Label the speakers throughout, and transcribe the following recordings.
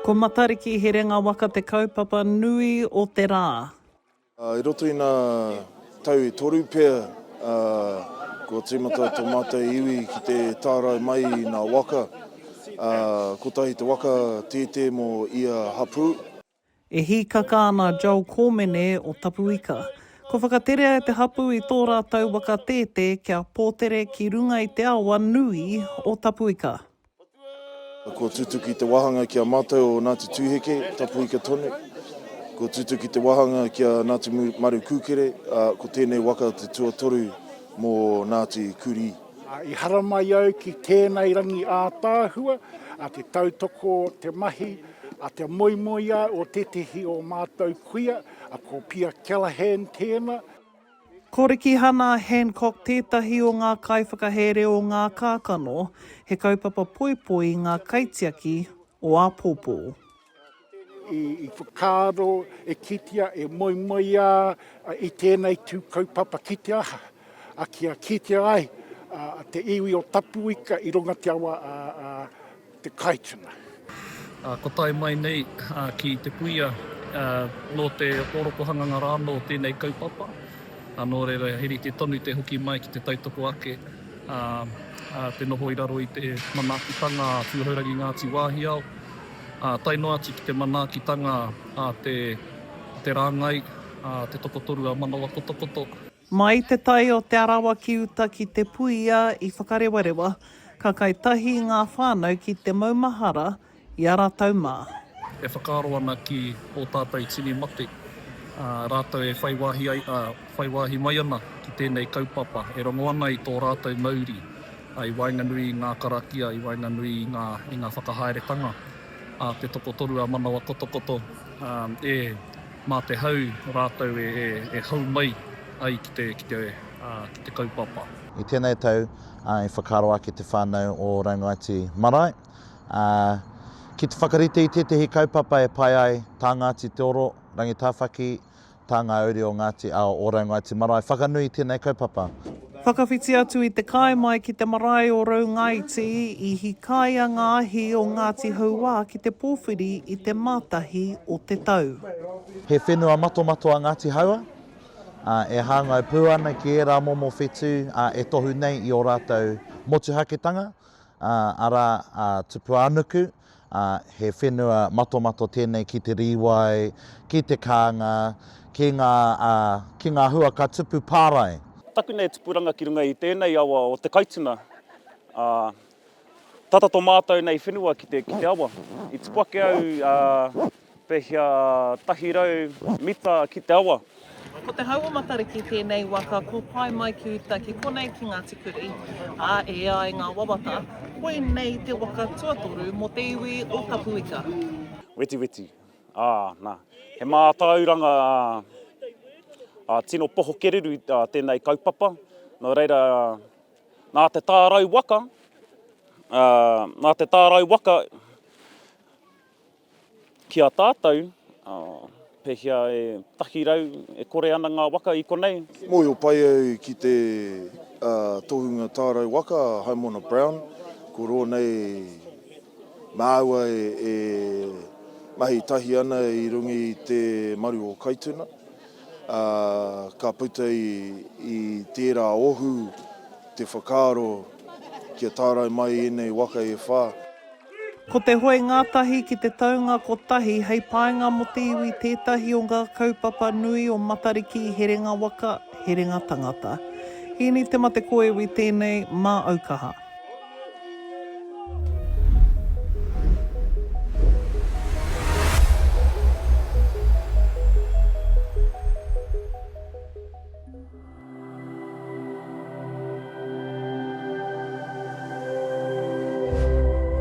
Speaker 1: Ko Matariki Herenga Waka te kaupapa nui o te rā. I roto
Speaker 2: i nā tau e toru pea, kua tīmata tō mātou iwi ki te tārai mai i nā waka. Kotahi te waka tētē mō ia hapū. E
Speaker 1: hīkaka ana a Joel Kōmene o Tapuika. Kua whakaterea e te hapū i tō rātou waka tētē kia pōtere ki runga i te awa nui o Tapuika.
Speaker 2: Kua tutuki te wāhanga ki a mātou o Ngāti Tūheke, Tapuika tonu. Kua tutuki te wāhanga ki a Ngāti Maru Kūkere, ā, ko tēnei waka te tuatoru mō Ngāti Kurī. I haramai
Speaker 3: au ki tēnei rangi ātaahua, te tautoko, te mahi. A te moemoeā o tētehi o mātou kuia, ko Pia Callaghan tēna. Ko
Speaker 1: Rikihana Hancock tētahi o ngā kaiwhakahere o ngā kākano, he kaupapa poipoi i ngā kaitiaki o āpōpō.
Speaker 3: I whakaaro e kitea, e moemoeā i tēnei tū kaupapa ki te aha, kia kitea ai te iwi o Tapuika i runga te awa a. te Kaituna. Ko
Speaker 4: tae mai nei ki te kuia, nō te orokohanganga rānō tēnei kaupapa, nō reira he rite tonu te hoki mai ki te tautoko ake, te noho i raro i te manaakitanga a Tūhourangi Ngāti Wāhiao, tae noa atu ki te manaakitanga a te rāngai, te tokotoru a Manawakotokoto. Mai te tai
Speaker 1: o Te Arawa ki uta ki Te Puia i Whakarewarewa, ka kai tahi ngā whānau ki te maumahara i a rātou mā. E whakaaro
Speaker 4: ana ki ō tātou tini mate, ā, rātou e whai wāhi ai, ā, whai wāhi mai ana ki tēnei kaupapa, e rongo ana i tō rātou mauri, ā, i waenganui i ngā karakia, i waenganui i ngā, i ngā whakahaeretanga, ā, te tokotoru ā-manawa kotokoto, ā, e. Mā te hau rātou e hau mai ai ki te kaupapa. I tēnei tau,
Speaker 5: i whakaaro ake te whānau o Rangaiti Marae ki te whakarite i tētehi kaupapa e pai ai tā Ngāti Te Oro, Rangitāwhaki, tā ngā uri o Ngāti Ao o Rangaiti Marae whakanui i tēnei kaupapa. Whakawhiti atu
Speaker 1: i te kai mai ki te marae o Raungaiti, i hikaia ngā ahi o Ngāti Hauā ki te pōwhiri i te Mātahi o te tau. He whenua
Speaker 5: matomato a Ngāti Hauā, ā, e hāngai pū ana ki ērā momo whetū, ā, e tohu nei i ō rātou motuhaketanga, ā, arā, ā, Tupuānuku, ā, he whenua matomato tēnei ki te rīwai, ki te kānga, ki ngā, ā, ki ngā hua ka tupu pārae. Taku nei tupuranga
Speaker 6: ki runga i tēnei awa o Te Kaituna, ā, tata tō mātou nei whenua ki te, ki te awa. I tipu ake au, ā, Pehea tahi rau mita ki te awa? Ko te hau o
Speaker 1: Matariki tēnei waka ko pae mai ki uta ki konei ki Ngāti Kuri, ā, e ai ngā wawata, koinei te waka tuatoru mō te iwi o Tapuika. Wetiweti,
Speaker 6: ā, nā, he mātauranga tino pohokeruru tēnei kaupapa, nō reira, nā te tārau waka, nā te tārau waka, Ki a tātou, pehea e taki rau, e kore ana ngā waka i konei? Mōhio pai au
Speaker 2: ki te tohunga tārai waka a Haimona Brown, ko rō nei māua e mahi tahi ana i runga i te maru o Kaituna, ā, ka puta i tērā ohu te whakaaro kia tārai mai ēnei waka e whā. Ko te
Speaker 1: hoe ngātahi ki te taunga kotahi hei painga mō te iwi tētahi o ngā kaupapa nui o Matariki Herenga Waka, Herenga Tangata. Hīni Te Matekoewi tēnei mā Aukaha.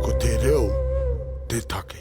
Speaker 1: Ko te reo te take.